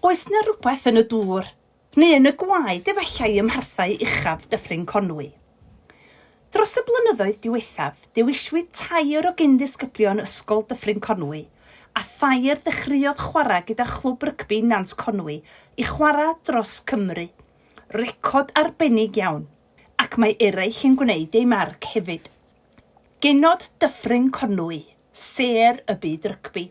Oes 'na rywbeth yn y dŵr, neu yn y gwaed efallai ym mharthau uchaf Dyffryn Conwy? Dros y blynyddoedd diwethaf, dewiswyd tair o gyn-ddisgyblion Ysgol Dyffryn Conwy a thair ddechreuodd chwarae gyda Chlwb Rygbi Nant Conwy i chwarae dros Cymru, record arbennig iawn, ac mae eraill yn gwneud eu marc hefyd. Genod Dyffryn Conwy, sêr y byd rygbi.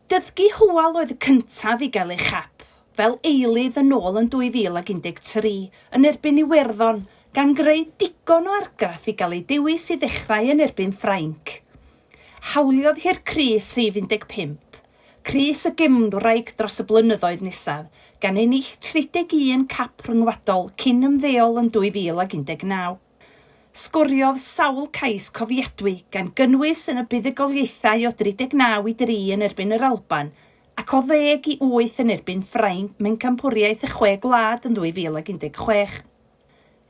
Dysgu Hywel oedd y cyntaf i gael ei chap fel eilydd yn ôl yn 2013 yn erbyn Iwerddon, gan greu digon o argraff i gael ei dewis i ddechrau yn erbyn Ffrainc. Hawliodd hi'r crys rhif 15, crys y gefnwraig dros y blynyddoedd nesaf, gan ennill 31 cap rhyngwladol cyn ymddeol yn 2019. Sgoriodd sawl cais cofiadwy, gan gynnwys yn y buddugoliaethau o 39 i 3 yn erbyn yr Alban ac o ddeg i wyth yn erbyn Ffrainc mewn Campwriaeth y Chwe Gwlad yn 2016.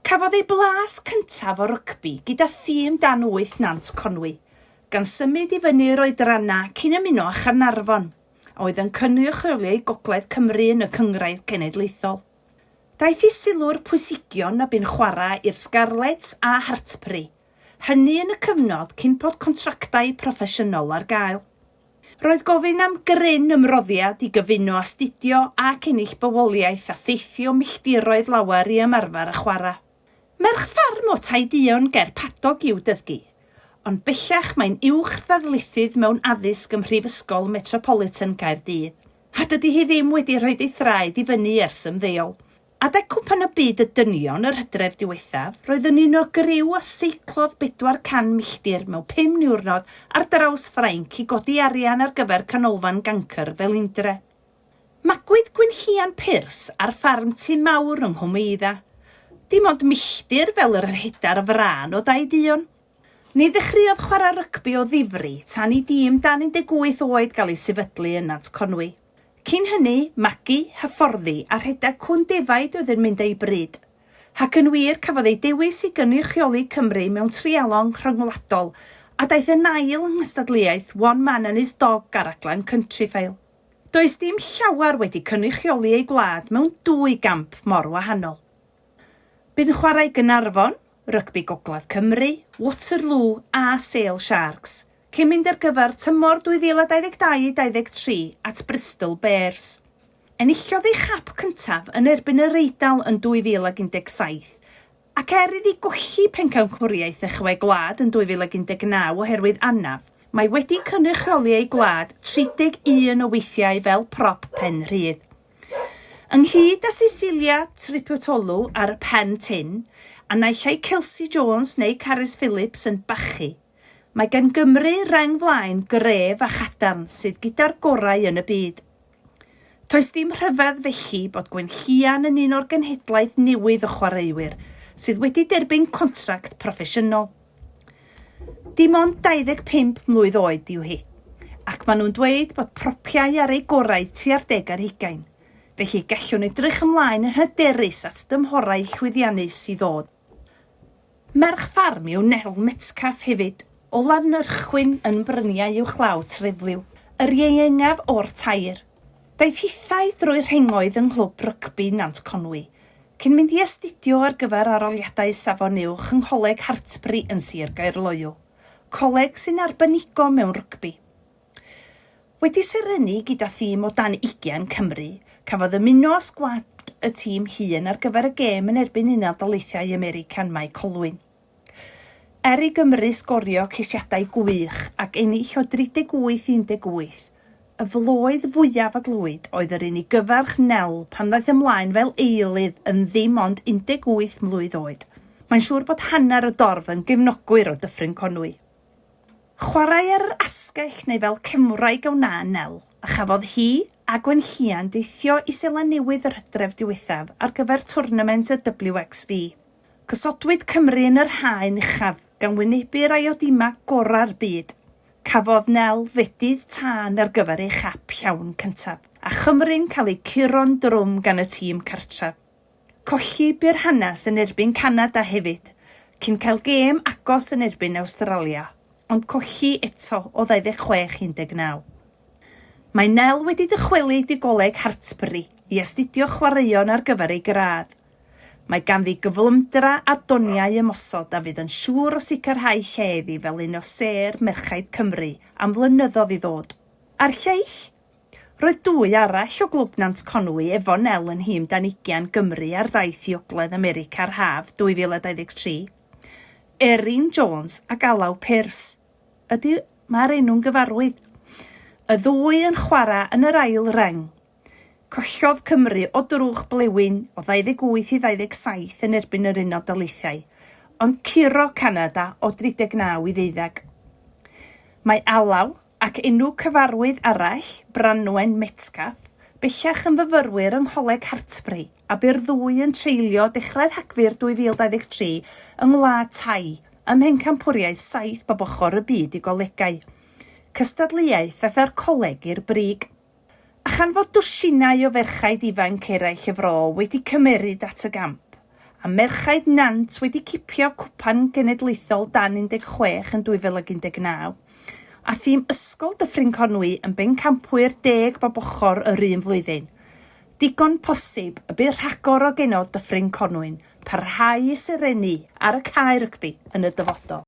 Cafodd ei blas cyntaf o rygbi gyda thîm dan wyth Nant Conwy, gan symud i fyny i'r oedrannau cyn ymuno â Chaernarfon, a oedd yn cynrychioli Gogledd Cymru yn y Cynghrair Cenedlaethol. Daeth i sylw'r pwysigion na bu'n chwarae i'r Scarlets a Hartpury, hynny yn y cyfnod cyn bod contractau proffesiynol ar gael. Roedd gofyn am gryn ymroddiad i gyfuno astudio ac ennill bywoliaeth a theithio milltiroedd lawer i ymarfer a chwarae. Merch ffarm o Tai Duon ger Padog yw Dyddgu, ond bellach mae'n uwch-ddarlithydd mewn addysg ym Mhrifysgol Metropolitan Caerdydd. A dydy hi ddim wedi rhoid ei thraed i fyny ers ymddeol. Adeg Cwpan y Byd y Dynion yr hydref diwethaf, roedd yn un o griw a seiclodd 400 milltir mewn pum niwrnod ar draws Ffrainc i godi arian ar gyfer Canolfan Gancr Felindre. Magwyd Gwynllian Pyrs ar ffarm Tŷ Mawr yng Nghwmeuddau, dim ond milltir fel yr rhedar frân o Daid Uon. Ni ddechreuodd chwarae rygbi o ddifri tan i dîm dan 18 oed gael ei sefydlu yn Nant Conwy. Cyn hynny, magu, hyfforddi a rhedeg cŵn defaid oedd yn mynd â'i bryd. Ac yn wir, cafodd ei dewis i gynrychioli Cymru mewn treialon rhyngwladol a daeth yn ail yng nghystadleuaeth One Man and His Dog ar raglen Countryfile. Does dim llawer wedi cynrychioli ei gwlad mewn dwy gamp mor wahanol. Bu'n chwarae i Gaernarfon, Rygbi Gogledd Cymru, Waterloo a Sale Sharks, cyn mynd ar gyfer tymor 2022-23 at Bristol Bears. Enillodd ei chap cyntaf yn erbyn yr Eidal yn 2017, ac er iddi golli pencampwriaeth y Chwe Gwlad yn 2019 oherwydd anaf, mae wedi cynrychioli ei gwlad 31 o weithiau fel prop pen rhydd. Ynghyd â Cecilia Tripotoulou ar y pen tin, a naill ai Kelsey Jones neu Carys Phillips yn bachu, mae gan Gymru reng flaen gref a chadarn sydd gyda'r gorau yn y byd. Toes dim rhyfedd felly bod Gwenllian yn un o'r genhedlaeth newydd o chwaraewyr sydd wedi derbyn contract proffesiynol. Dim ond 25 mlwydd oed yw hi, ac maen nhw'n dweud bod propiau ar eu gorau tua'r deg ar hugain, felly gallwn edrych ymlaen yn hyderus at dymhorau llwyddiannus i ddod. Merch ffarm yw Nell Metcalfe hefyd, o Lafnyrchwyn yn bryniau uwchlaw Trefliw, yr ieuengaf o'r tair. Daeth hithau drwy rhengoedd yng Nghlwb Rygbi Nant Conwy, cyn mynd i astudio ar gyfer Aroliadau Safon Uwch yng Ngholeg Hartpury yn Sir Gaerloyw, coleg sy'n arbenigo mewn rygbi. Wedi serennu gyda thîm o dan ugain Cymru, cafodd ymuno â sgwad y tîm hŷn ar gyfer y gêm yn erbyn Unol Daleithiau America'n Mae Colwyn. Er i Gymru sgorio ceisiadau gwych ac ennill o 38 i 18, y floedd fwyaf a glywyd oedd yr un i gyfarch Nel pan ddaeth ymlaen fel eilydd yn ddim ond 18 mlwydd oed. Mae'n siŵr bod hanner y dorf yn gefnogwyr o Dyffryn Conwy. Chwarae ar yr asgell neu fel cefnwraig a wna Nel, a chafodd hi a Gwenllian deithio i Seland Newydd yr hydref diwethaf ar gyfer twrnament y WXV. Gosodwyd Cymru yn yr haen uchaf gan wynebu yr Iodima gorau'r byd. Cafodd Nel fedydd tân ar gyfer ei chap llawn cyntaf, a Chymru'n cael eu curo'n drwm gan y tîm cartref. Colli bu'r hanes yn erbyn Canada hefyd, cyn cael gêm agos yn erbyn Awstralia, ond colli eto o 26 i 19. Mae Nel wedi dychwelyd i Goleg Hartpury i astudio chwaraeon ar gyfer ei gradd. Mae ganddi gyflymdra a doniau ymosod a fydd yn siŵr o sicrhau lle iddi fel un o sêr merchaid Cymru am flynyddoedd i ddod. A'r lleill? Roedd dwy arall o Glwb Nant Conwy, Evo Nel yn nhîm dan ugian Gymru ar ddaith i Ogledd America'r haf 2023. Erin Jones ac Alaw Pearce. Ydy, mae'r enw'n gyfarwydd. Y ddwy yn chwarae yn yr ail reng. Collodd Cymru o drwch blewyn o 28 i 27 yn erbyn yr Unol Daleithiau, ond curo Canada o 39 i ddeuddeg. Mae alaw ac enw cyfarwydd arall, Branwen Metcalfe, bellach yn fyfyrwyr yng Ngholeg Hartpury a bu'r ddwy yn treulio dechrau Rhagfyr 2023 yng Ngwlad Thai ym mhencampwriaeth saith bob ochr y byd i golegau, cystadleuaeth a tha'r coleg i'r brig. A chan fod dwsinau o ferchaid ifanc eraill y fro wedi cymeryd at y gamp, a merchaid Nant wedi cipio Cwpan Genedlaethol dan 16 yn 2019, a thîm Ysgol Dyffryn Conwy yn bencampwyr deg bob ochr yr un flwyddyn, digon posib y bydd rhagor o genod Dyffryn Conwy'n parhau i serennu ar y cae rygbi yn y dyfodol.